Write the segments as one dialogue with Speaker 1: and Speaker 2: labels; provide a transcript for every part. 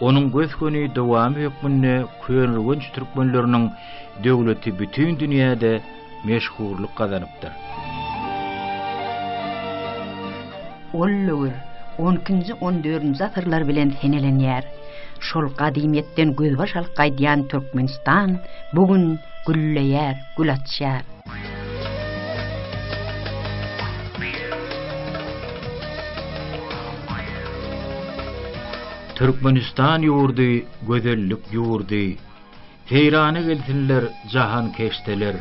Speaker 1: Onuň gös-göni dowamy hökmünde köneürgenç türkmenleriniň döwleti bütin dünýäde meşhurlyk gazanypdyr.
Speaker 2: Ol döwür on ikinji, on dördünji asyrlar bilen senelenýär. Şol gadymyýetden gözbaş alyp gaýdýan Türkmenistan bu gün gülleýär, gül açýar.
Speaker 1: Türkmenistan ýurdy gözellik ýurdy, Seýrana gelsinler jahankeşdeler.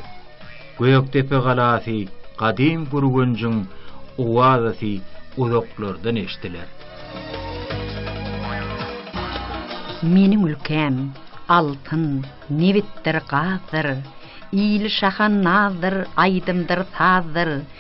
Speaker 1: Gökdepe galasy gadym Gürgenjiň owazasy uzaklardan eşdiler.
Speaker 2: Meniň ülkäm, altyn, nebitdir, gazdyr, Ili şaha nazdyr, aýdymdyr, sazdyr,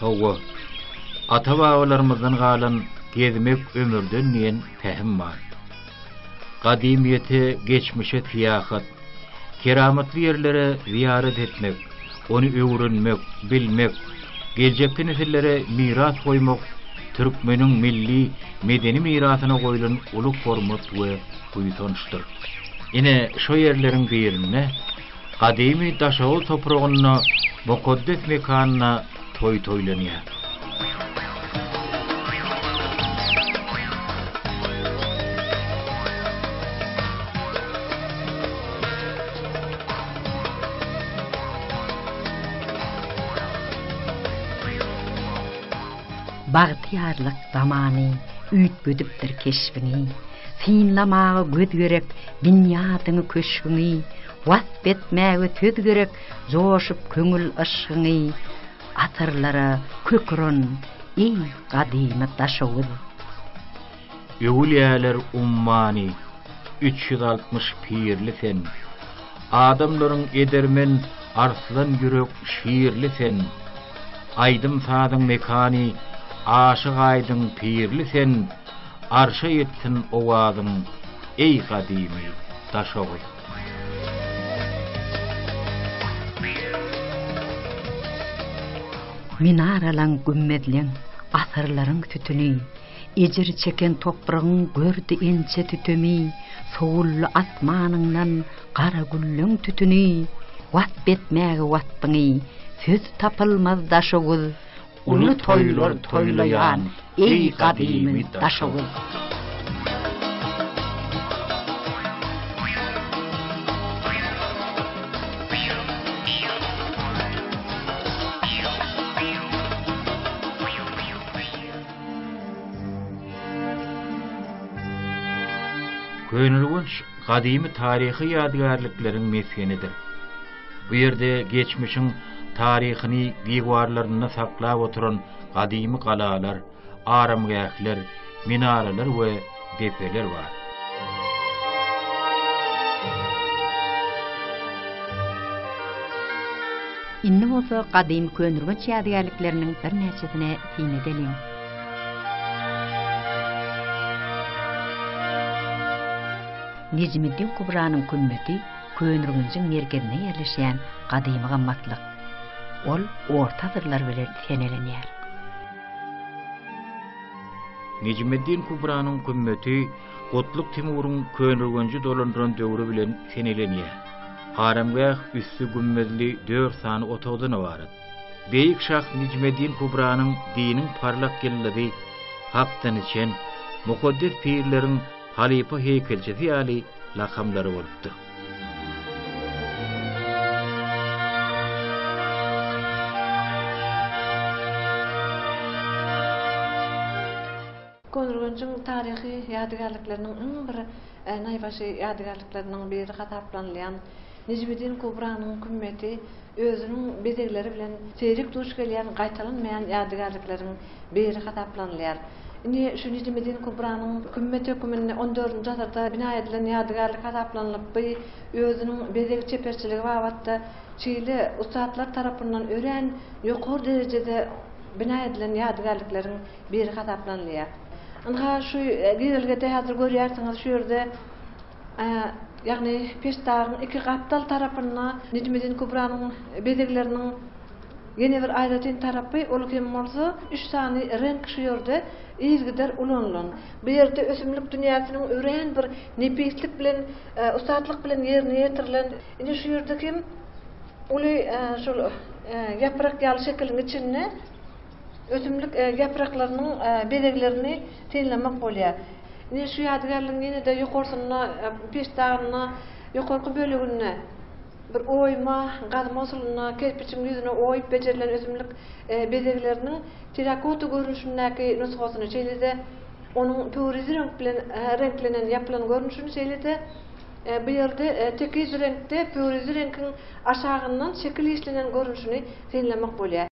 Speaker 1: Hawa, ata-babalarymyzdan galan Gezmek ömürden diýen pähim bar. Gadymyýete, geçmişe syýahat, keramatly ýerlere zyýarat etmek, ony öwrenmek, bilmek, geljekki nesillere miras goýmak türkmeniň milli medeni mirasyna goýlan uly hormat we buýsançdyr. Ine, şo ýerleriň birinde Gadymy Daşoguz topragynda, mukaddes mekanda toý toýlanýar.
Speaker 2: Bagtyýarlyk zamany üýtgedipdir keşbini. Synlamaga göz gerek binýadyňy köşgüňi, Wasp etmäge söz gerek joşup köňül yşgyňy. Asyrlara kök uran, eý, gadymy Daşoguz! Öwülýäler
Speaker 1: ummany, üç ýüz altmyş pirli sen, Adamlaryň edermen arslan ýürek şirli sen. Aýdym-sazyň mekany, aşyk Aýdyň pirli sen, Arşa ýetsin owazyň, eý gadymy Daşoguz!
Speaker 2: Minaralaň, gümmezleň, asyrlaryň sütüni, Ejir çeken topragyň gördi inçe sütemi, Sowuldy asmanyňdan gara gülleň tütüni, Wasp etmäge wasbyňy söz tapylmaz Daşoguz! Uly toýlar toýlaýan, eý gadymy Daşoguz!
Speaker 1: Köneürgenç gadymy taryhy ýadygärlikleriň mesgenidir. Bu ýerde geçmişiň taryhyny diwarlarynda saklap oturan gadymy galalar, aramgähler, minaralar we depeler bar.
Speaker 2: Indi bolsa gadymy könürgenç ýadygärlikleriniň birnäçesine syn edeliň. Nejmiddin Kubranyň kümmeti Köneürgenjiň merkezinde ýerleşýän gadymy gymmatlyk. Ol orta asyrlar bilen senelenýär.
Speaker 1: Nejmeddin Kubranyň kümmeti Gutluk Timuryň Köneürgenji dolandyran döwri bilen senelenýär. Aramgäh üsti gümmezli dört sany otagdan ybarat. Beýik şah Nejmeddin Kubranyň diniň parlak ýyldyzy, hakdan içen, mukaddes pirleriň, Halypa heýkelçisi ýaly lakamlary bolupdyr.
Speaker 3: Köneürgenjiň taryhy ýadygärlikleriniň iň bir naýbaşy ýadygärlikleriniň biri hasaplanylýan Nejmidin Kubranyň kümmeti özüniň bezegleri bilen seýrek duş gelýän gaýtalanmaýan ýadygärlikleriň biri hasaplanylýar. Indi şu Nejmedin Kubranyň Kümmet höküminde on dördünji asyrda bina edilen ýadygärlik hasaplanylyp, bu özüniň bezeg çeperçiligi babatda şeýle ussatlar tarapyndan örän ýokary derejede bina edilen ýadygärlikleriň biri hasaplanylýar. Ynha, şu girelgede häzir görýärsiňiz, şu ýerde Ýagny peştagyň iki gapdal tarapynda Nejmedin Kubranyň bezegleriniň ýene bir aýratyn tarapy, ol hem bolsa üç sany reňk şu ýerde yzgider ulanylan. Bu ýerde ösümlik dünýäsiniň örän bir nepislik bilen, ussatlyk bilen ýerine ýetirilen. Ine şu ýerde hem uly şol ýaprak ýaly şekiliň içinde. Ösümlik ýapraklarynyň bezeglerini synlamak bolýar. Ine, şu ýadygärligiň ýene-de ýokarsynda, peşdagynda, ýokarky böleginde bir oýma, gazma usulynda kerpiçiň ýüzüne oýup bejerilen ösümlik bezegleriniň terakota görnüşindäki nusgasyny, şeýle-de onuň pöwrizi reňk bilen reňklenen ýapylan görnüşini, şeýle-de bu ýerde tekiz reňkde pöwrizi reňkiň aşagyndan şekil işlenen görnüşini synlamak bolýar.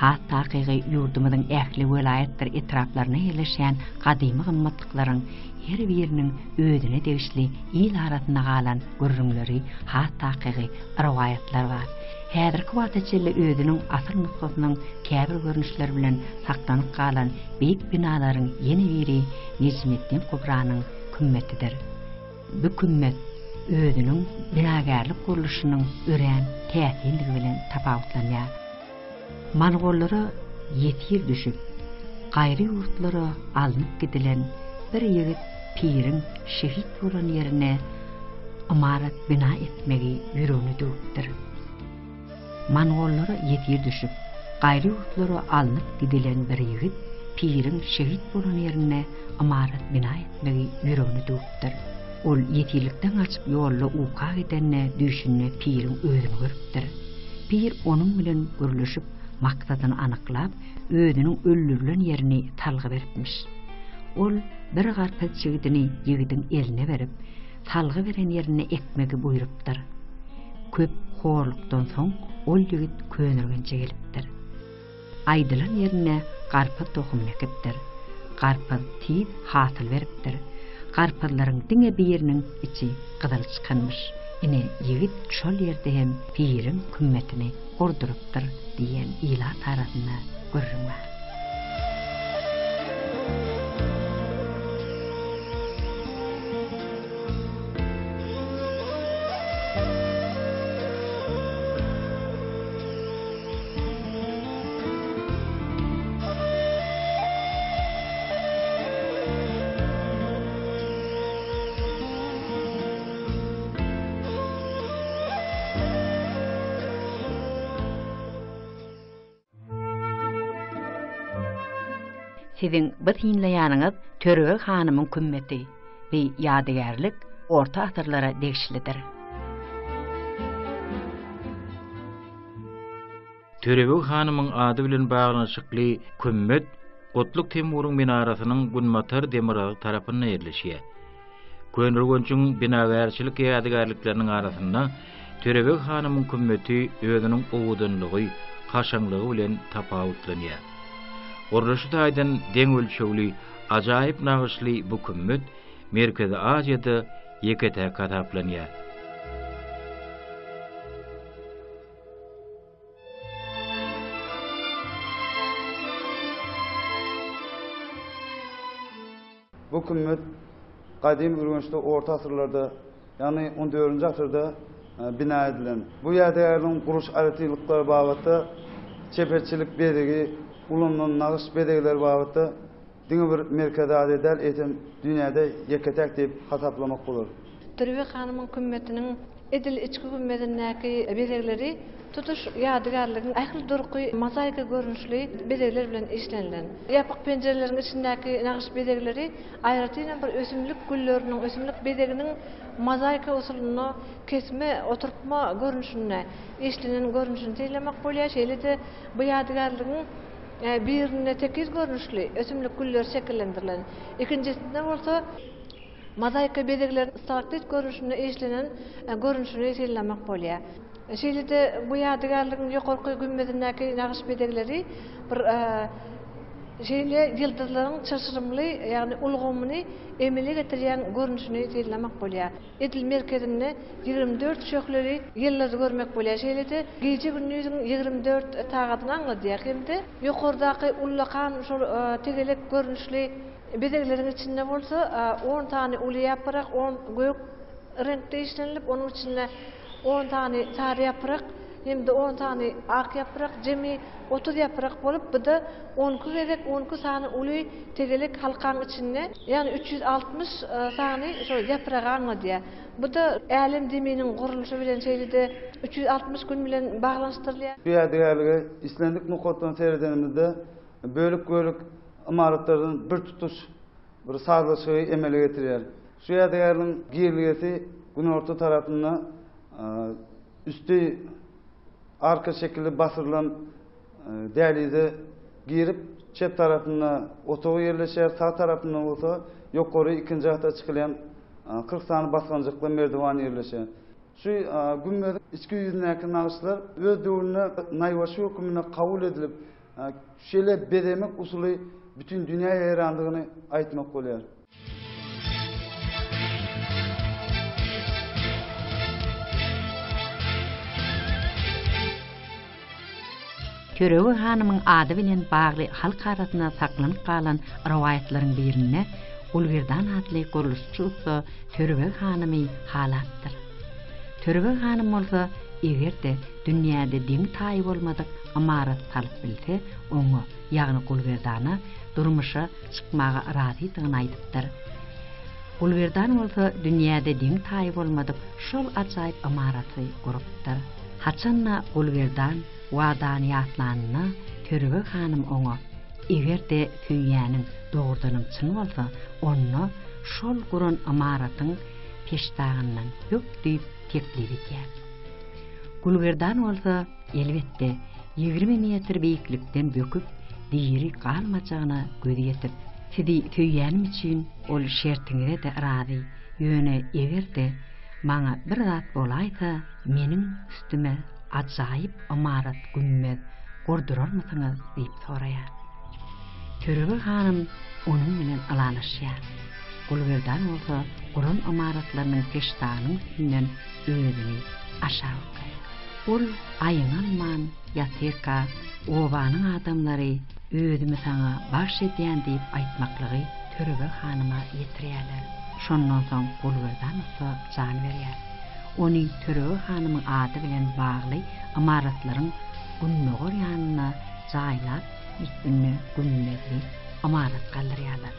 Speaker 3: Has takygy, ýurdumyzyň ähli welaýatdyr etraplarynda ýerleşýän gadymy gymmatlyklaryň her biriniň özüne degişli il arasynda galan gürrüňleri, has takygy, rowaýatlar bar. Häzirki wagta çenli özüniň asyl nusgasynyň käbir görnüşleri bilen saklanyp galan beýik binalaryň ýene biri Nejmeddin Kubranyň kümmetidir. Bu kümmet özüniň binagärlik gurluşynyň örän täsindigi bilen tapawutlanýar. Mongollara ýesir düşüp, gaýry ýurtlara alnyp gidilen bir ýigit piriň şehit bolan ýerine ymarat bina etmegi ýüregine düwüpdir. Mongollara ýesir düşüp, gaýry ýurtlara alnyp gidilen bir ýigit piriň şehit bolan ýerine ymarat bina etmegi ýüregine düwüpdir. Ol ýesirlikden gaçyp ýolda uka gidende düýşünde piriň özüni görüpdir. Pir onuň bilen gürleşip, maksadyny anyklap, özüniň öldürilen ýerini salgy beripmiş. Ol bir garpyz çigidini ýigidiň eline berip, salgy beren ýerinde ekmegi buýrupdyr. Köp horlukdan soň ol ýigit Könürgenje gelipdir. Aýdylan ýerinde garpyz tohumyny ekipdir. Garpyz tiz hasyl beripdir. Garpyzlaryň diňe biriniň içi gyzyl çykanmyş. Ine, ýigit şol ýerde hem piriň kümmetini gurdurypdyr diýen ilat arasynda gürrüň bar. Siziň bu synlaýanyňyz Törebeg hanymyň kümmeti we ýadygärlik orta asyrlara degişlidir.
Speaker 1: Törebeg hanymyň ady bilen baglanyşykly kümmet Gutluk Temuryň minarasynyň günbatar demirgazy tarapynda ýerleşýär. Köneürgenjiň binagärçilik ýadygärlikleriniň arasynda Törebeg hanymyň kümmeti özüniň owadanlygy, kaşaňlygy bilen tapawutlanýar. Gurluşy taýdan deň ölçegli, ajaýyp nagyşly bu kümmet Merkezi Aziýada ýeke-täk hasaplanýar.
Speaker 4: Bu kümmet gadymy Ürgençde orta asyrlarda, ýagny 14-nji asyrda e, bina edilen. Bu ýadygärligiň guruş aýratynlyklary babatda, çeperçilik bezegi, ulanylan nagyş bezegleri babatda Diňe bir Merkezi Aziýa däl, eýsem, dünýäde ýeke-täk diýip hasaplamak bolar. Türbe hanymyň
Speaker 3: kümmetiniň edil içki gümmezindäki bezegleri tutuş ýadygärligiň ähli durky mozaika görnüşli bezegler bilen işlenilen. Ýapyk penjireleriň içindäki nagyş bezegleri aýratynam bir ösümlik gülleriniň, ösümlik bezeginiň mozaika usulynda kesme, oturtma görnüşinde işlenen görnüşini synlamak bolýar. Şeýle-de bu ýadygärligiň. Birinde tekiz görnüşli ösümlik güller şekillendirilen, ikinjisinde bolsa mozaika bezegleriniň stalaktit görnüşinde işlenen görnüşini synlamak bolýar. Şeýle-de bu ýadygärligiň ýokarky gümmezindäki nagyş bezegleri bir şeýle ýyldyzlaryň çylşyrymly, ýagny ulgamyny emele getirýän görnüşini synlamak bolýar. Edil merkezinde ýigrimi dört şöhleli ýyldyzy görmek bolýar, şeýle-de gije-gündiziň ýigrimi dört sagadyny aňladýar hem-de ýokardaky ullakan şol tegelek görnüşli bezegleriň içinde bolsa on sany uly ýaprak, on gök reňkde işlenilip, onuň içinde on sany sary ýaprak hem-de on sany ak ýaprak, jemi otuz ýaprak bolup, bu-da on iki gezek on iki sany uly Tegelek halkaň içinde ýagny üç ýüz altmyş sany şo ýapragy aňladýar. Bu-da Älem zeminiň gurluşy bilen şeýle-de üç ýüz altmyş gün bilen baglanyşdyrylýar. Bu ýadygärlige
Speaker 4: islendik nokatdan seredenimizde bölek-bölek ymaratlardan bir tutuş bir sazlaşygy emele getirýär. Şu ýadygärligiň girlgesi günorta tarapynda üsti arka şekilli basyrylan Dälize girip, çep tarapynda otagy ýerleşýär, sag tarapynda bolsa ýokary ikinji gata çykylýan kyrk sany basgançakly merdiwan ýerleşýär. Şu gümmeziň içki ýüzündäki nagyşlar öz döwründe naýbaşy höküminde kabul edilip, şeýle bezemek usuly bütin dünýä ýaýrandygyny aýtmak bolýar.
Speaker 2: Törebeg hanymyň ady bilen bagly halk arasynda saklanyp galan rowaýatlaryň birinde Gulgerdan atly gurluşçy ussa Törebeg hanymy halapdyr. Törebeg hanym bolsa, eger-de dünýäde deňi-taýy bolmadyk ymarat salyp bilse, oňa, ýagny Gulgerdana, durmuşa çykmaga razydygyny aýdypdyr. Gulberdan bolsa dünýäde deň-taýy bolmadyk şol ajaýyp ymaraty gurupdyr. Haçan-da Gulberdan Wadany ýatlanynda Törebeg hanym oňa, Eger-de söýýäniň dogrudanam çyn bolsa, onda şol guran ymaratyň peştagyndan bök diýip teklip edýär. Gulberdan bolsa. Elbetde, ýigrimi metr beýiklikden böküp, diri galmajagyna göz ýetip. Sizi söýýänim üçin ol şertiňize-de razy. Ýöne eger-de maňa bir zat bolaýsa, meniň üstüme ajaýyp ymarat, gümmez, gurdurarmysyňyz? diýip soraýar. Törebeg hanym onuň bilen ylalaşýar. Gulberdan bolsa guran ymaratlarynyň peştagynyň üstünden özüni aşak. Ol aýňanman ýatyrka obanyň adamlary özümi saňa bagş edýän diýip aýtmaklygy Törebeg hanyma ýetirýärler. Şondan soň Gulberdan ussa jan berýär. Ony Törebeg hanymyň ady bilen bagly ymaratlaryň gündogar ýanynda jaýlap, ýitbinde Günmezli ymarat galdyrýarlar.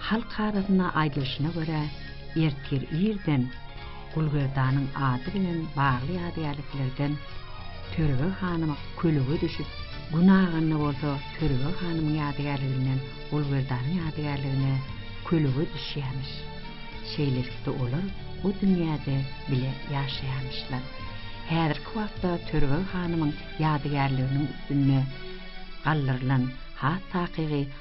Speaker 2: Halk arasynda aýdylyşyna görä, ertir irden Gulgerdanyň ady bilen bagly ýadygärliklerden Törebe hanym kölege düşüp, gün aganda bolsa Törebe hanymyň ýadygärliginden Gulgerdanyň ýadygärligine kölege düşýämiş. Şeýlelikde olar bu dünýäde bile ýaşaýamyşlar. Häzirki wagtda Törebe hanymyň ýadygärliginiň üstünde galdyrylan has takygy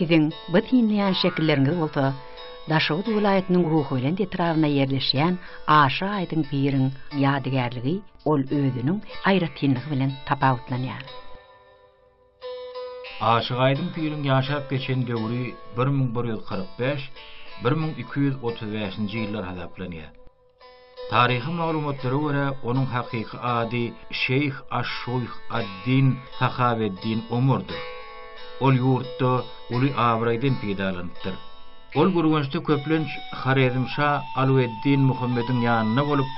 Speaker 2: Siziň bu synlaýan şekilleriňiz bolsa Daşoguz welaýatynyň Ruhubelent etrabynda ýerleşýän Aşa aýdyň piriň ýadygärligi ol özüniň aýratynlygy bilen tapawutlanýar.
Speaker 1: Aşyk Aýdyň piriň ýaşap geçen döwri bir müň bir ýüz kyrk bäş, bir müň iki ýüz otuz bäşinji ýyllar hasaplanýar. Taryhy maglumatlara görä, onuň hakyky ady Şeýh aş-Şuýh ad-Din Sahaweddin Omurdyr. Ol ýurtda uly abraýdan peýdalanypdyr. Ol Gürgençde köplenç Horezmşa Alueddin Muhammediň ýanynda bolup,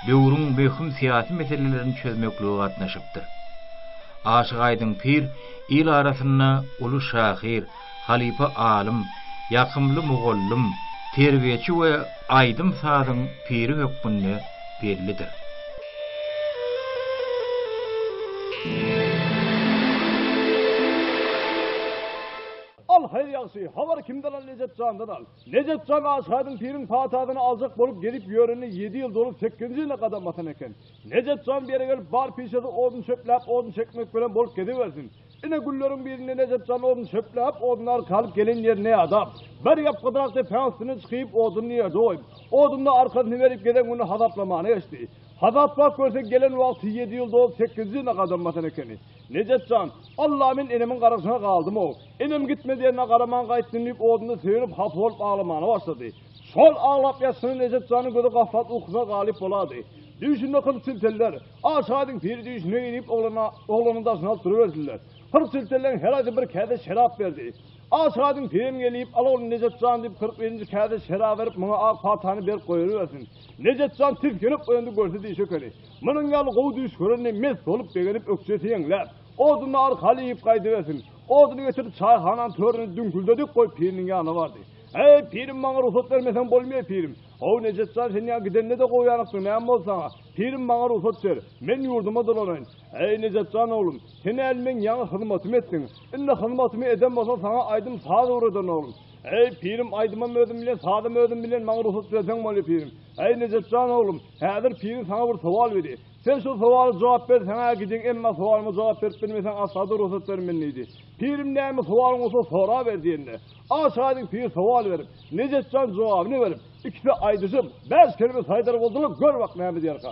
Speaker 1: döwrüň möhüm syýasy meselelerini çözmeklige gatnaşypdyr. Aşyk Aýdyň pir il arasynda uly şahyr, halypa alym, ýakymly mugallym, terbiýeçi we aýdym-sazyň piri hökmünde bellidir.
Speaker 5: Al, haýyr ýagşy, habar kimden al, Nejepjandan al. Nejepjan Aşgadyň piriň patasyny aljak bolup gelip ýörenine ýedi ýyl dolup sekinji ýylyna gadam basan eken. Nejepjan bu ýere gelip bar pişesi odun çöpläp odun çekmek bilen bolup gezibersin. Ine günleriň birinde Nejepjan odun çöpläp odun arka alyp gelen ýerine ýadap, bir ýapgydyrak depäň üstüne çykyp oduny ýerde goýup, oduna arkasyny berip gezen güni hasaplamana geçdi. Hasaplap görse gelen wagty ýedi ýyl dolup sekinji ýylyna gadam basan ekeni. Nejat jan, Alla men enemiň garasyna galdym-ow. Enem gitme diýenine garaman gaýtdym diýip oduna söýenip hapa bolup aglamana başlady. Şol aglap ýatyşyna Nejat janyň gözi gaflat ukusyna galyp bolady. Düýşünde kyrk çilteller, A şaýdyň piri düýşüne-eý diýip oglana, oglanyň daşyny alyp duruberdiler. Kyrk çiltelleň her aýsy bir käse şerap berdi. A şaýdyň pirim gelip, Al ogly Nejat jan diýip kyrk birinji käse şerap berip muňa ak paltany berip goýarybersin. Nejat jan tisginip oýandy görse diýşi ekeni. Munuň ýaly gowy düýş görende mes bolup begenip ökjesi ýeňläp, oduny arkaly iýip gaýdybersin. Oduny getirip çaýhananyň töründe düňküldedik goýup piriniň ýanyna bardy. Eý, pirim maňa rugsat bermeseň bolmaýa pirim. How Nejat jan sen ýa gidende-de gowy ýanykdyň näme boldy saňa? Pirim maňa rugsat ber, men ýurduma dolanaýyn. Eý, Nejat jan oglum, sen äl meň ýaňy hyzmatymy etdiň. Indi hyzmatymy eden bolsaň saňa aýdym saz öwrederin oglum. Eý, pirim aýdymam özüm bilen sazam özüm bilen maňa rugsat berseň bolýa pirim. Äý Nejatjan oglum, häzir piriň saňa bir sowal beri. Sen şol sowala jogap ber, saňa gidin, emma sowalyma jogap berip bilmeseň asla-da rugsat bermen diýdi. Pirim näme sowalyň bolsa sora ber diýende, aşyk-aýdyň pir sowal berip, Nejatjan jogabyny berip, ikisi aýdyşyp, bäş kelime saýdar boldular, gör bak näme diýerka.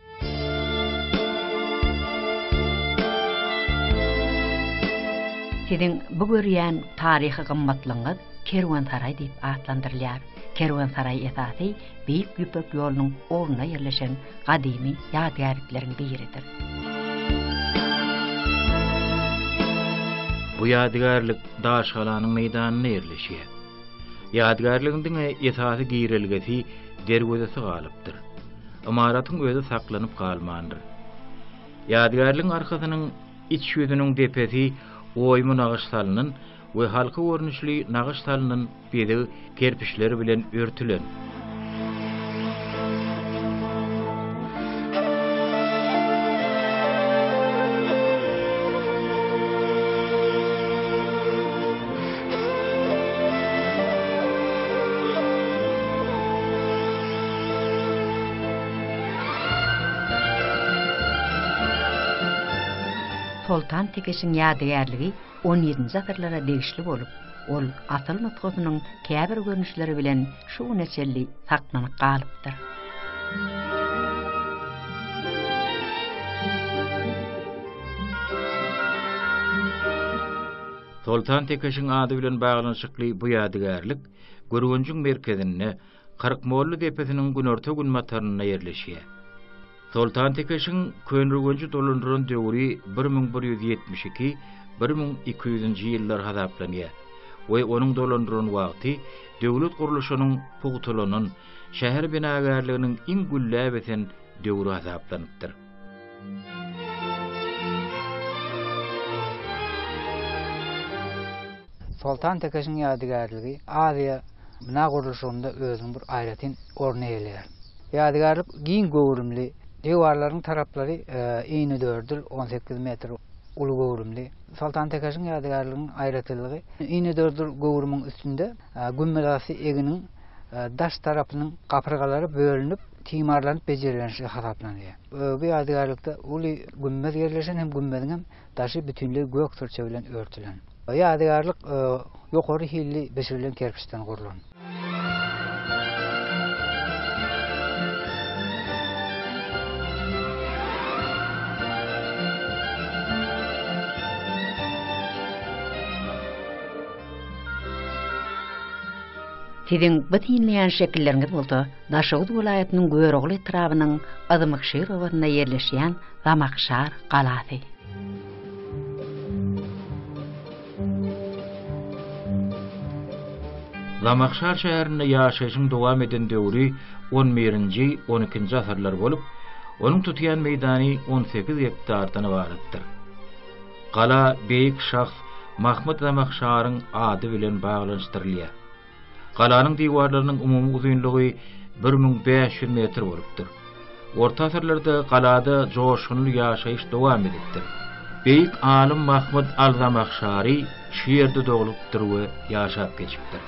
Speaker 2: Siziň bu görýän taryhy gymmatlygyňyz Kerwensaraý diýip atlandyrylýar. Kerwensaraý esasy Beýik Ýüpek ýolunyň ugrunda ýerleşen gadymy ýadygärlikleriň biridir.
Speaker 1: Bu ýadygärlik daşgalanyň meýdanynda ýerleşýär. Ýadygärligiň diňe esasy girelgesi derwezesi galypdyr. Ymaratyň özi saklanyp galmandyr. Ýadygärligiň arkasynyň iç ýüzüniň depesi oýmy nagyş salnan we halka görnüşli nagyş salnan bezeg kerpiçleri bilen örtülen.
Speaker 2: Soltan Tekeşiň ýadygärligi on ýedinji asyrlara degişli bolup, ol asyl nusgasynyň käbir görnüşleri bilen şu güne çenli saklanyp galypdyr. Soltan Tekeşiň ady bilen baglanyşykly bu ýadygärlik Gürgenjiň merkezinde,
Speaker 1: Kyrkmolly depesiniň günorta-günbatarynda ýerleşýär. Soltan Tekeşiň Köneürgenji dolandyran döwri bir müň bir ýüz ýetmiş iki, bir müň iki ýüzünji ýyllar hasaplanýar we onuň dolandyran wagty döwlet gurluşynyň pugtalanan, şäher binagärliginiň iň gülläp ösen döwri hasaplanypdyr.
Speaker 6: Soltan Tekeşiň ýadygärligi Aziýa bina gurluşygynda özüniň bir aýratyn orny eýeleýär. Ýadygärlik giň göwrümli, diwarlaryň taraplary inedördül, on sekiz metr uly göwrümli. Soltan Tekeşiň ýadygärliginiň aýratynlygy inedördül göwrümiň üstünde gümmezasy eginiň daş tarapynyň gapyrgalary bölünip, timarlanyp bejerilendigi hasaplanylýar. Bu ýadygärlikde uly gümmez ýerleşen hem gümmeziň hem daşy bütinleý gök sürçe bilen örtülen. Ýadygärlik ýokary hilli bişirilen kerpiçden gurlan.
Speaker 2: Siziň bu synlaýan şekilleriňiz bolsa, Daşoguz welaýatynyň Görogly etrabynyň Yzmykşir obasynda ýerleşýän Zamakşar galasy.
Speaker 1: Zamakşar şäherinde ýaşaýşyň dowam eden döwri on birinji, on ikinji asyrlar bolup, onuň tutýan meýdany on sekiz gektardan ybaratdyr. Gala beýik şahs Mahmyt Zamakşaryň ady bilen baglanyşdyrylýar. Galanyň diwarlarynyň umumy uzynlygy bir müň bäş ýüz metr bolupdyr. Orta asyrlarda galada joşgunly ýaşaýyş dowam edipdir. Beýik alym Mahmyt al-Zamahşary şu ýerde doglupdyr we ýaşap geçipdir.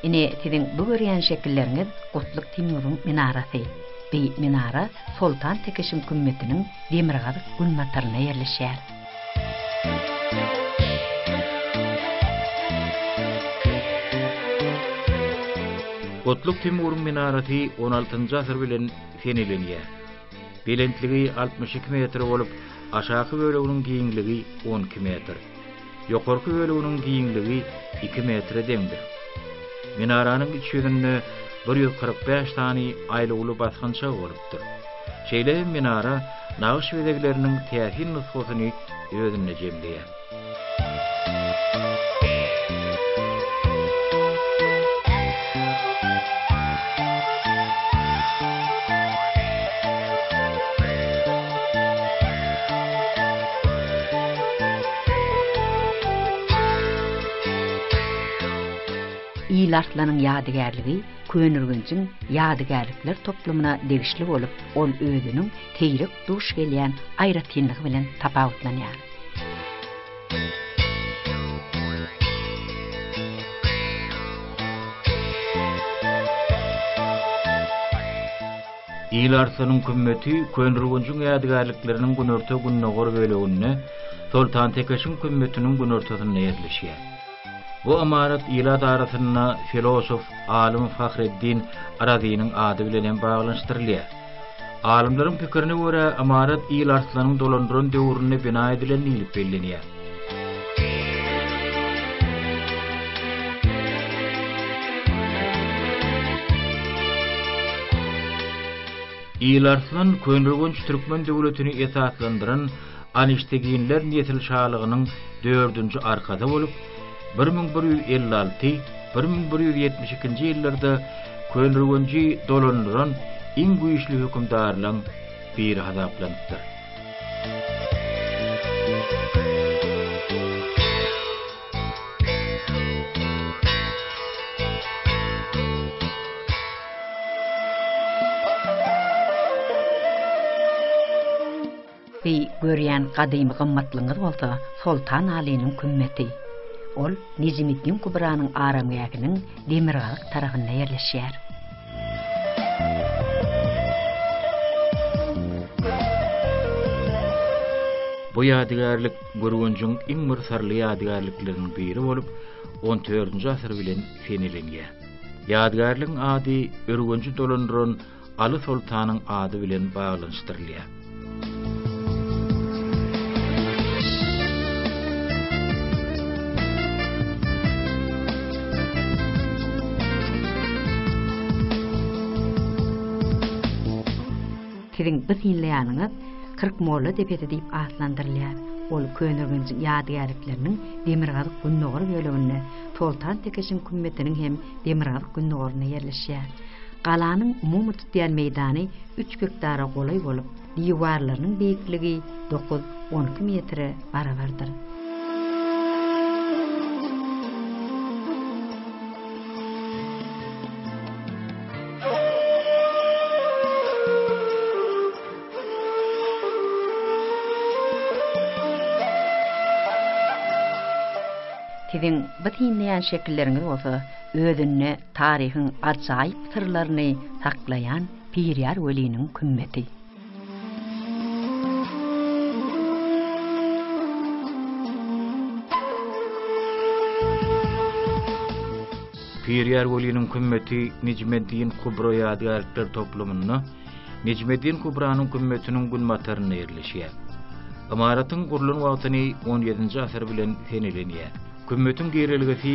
Speaker 2: Ine, siziň bu görýän şekilleriňiz Gutluk Timuriň minarasy. Beýik minara Soltan Tekişiň kümmetiniň demirgazyk günbataryna ýerleşýär.
Speaker 1: Gutluk Timuryň minarasy on altynjy asyr bilen senilenýär. Belentligi altmyş iki metr bolup, aşaky böleginiň giňligi on iki metr. Ýokarky böleginiň giňligi iki metre deňdir. Minaranyň iç ýüzünde bir ýüz kyrk bäş sany aýlawly basgançak bolup, döredilipdir. Şeýle hem minara nagyş bezegleriniň täsin nusgasyny özünde jemleýär.
Speaker 2: Ýylarslan-yň ýadygärligi Köneürgenjiň ýadygärlikler toplumyna degişli bolup, ol özüniň seýrek duş gelýän aýratynlygy bilen tapawutlanýar.
Speaker 1: Il Arslanyň kümmeti Köneürgenjiň ýadygärlikleriniň günorta-gündogar böleginde, Soltantekeşiň kümmetiniň günortasynda ýerleşýär. Bu ymarat ilat arasynda filosof, alym Fahreddin Razynyň ady bilen hem baglanyşdyrylýar. Alymlaryň pikirine görä, ymarat Il Arslanyň dolandyran döwründe bina edilen diýlip bellenýär. Il Arslan Köneürgenç türkmen döwletini esaslandyran Anişteginler nesil şalygynyň dördünji arkasy bolup, bir müň bir ýüz elli alty, bir müň bir ýüz ýetmiş ikinji ýyllarda Köneürgenji dolandyran iň güýçli hökümdarlaň biri hasaplanypdyr.
Speaker 2: Beý, görýän gadymy gymmatlygyňyz bolsa Soltan Alynyň kümmeti. Ol Nejimiddiň Kubranyň aramgähiniň demirgazyk tarapynda ýerleşýär.
Speaker 1: Bu ýadygärlik Gürgenjiň iň bir syrly ýadygärlikleriniň biri bolup, on dördünji asyr bilen seneleniýär. Ýadygärligiň ady Ürgenji dolandyran Aly soltanyň ady bilen baglanyşdyrylýar.
Speaker 2: Siziň bu synlaýanyňyz Kyrk molla depesi diýip atlandyrylýar. Ol Köneürgenjiň ýadygärlikleriniň demirgazyk-gündogar böleginde, Soltan Tekeşiň kümmetiniň hem demirgazyk-gündogarynda ýerleşýär. Galanyň umumy tutýan meýdany üç gektara golaý bolup, diwarlarynyň beýikligi dokuz, on iki metre barabardyr. Siziň bu synlaýan şekilleriňiz bolsa özünde Taryhyň ajaýyp syrlaryny saklaýan Birýar weliniň kümmeti.
Speaker 1: Birýar weliniň kümmeti Nejmeddin Kubra ýadygärlikler toplumynda Nejmeddin Kubranyň kümmetiniň günbatarynda ýerleşýär. Ymaratyň gurlan wagtyny XVII-nji asyr bilen seneleniýär. Kümmetiň girelgesi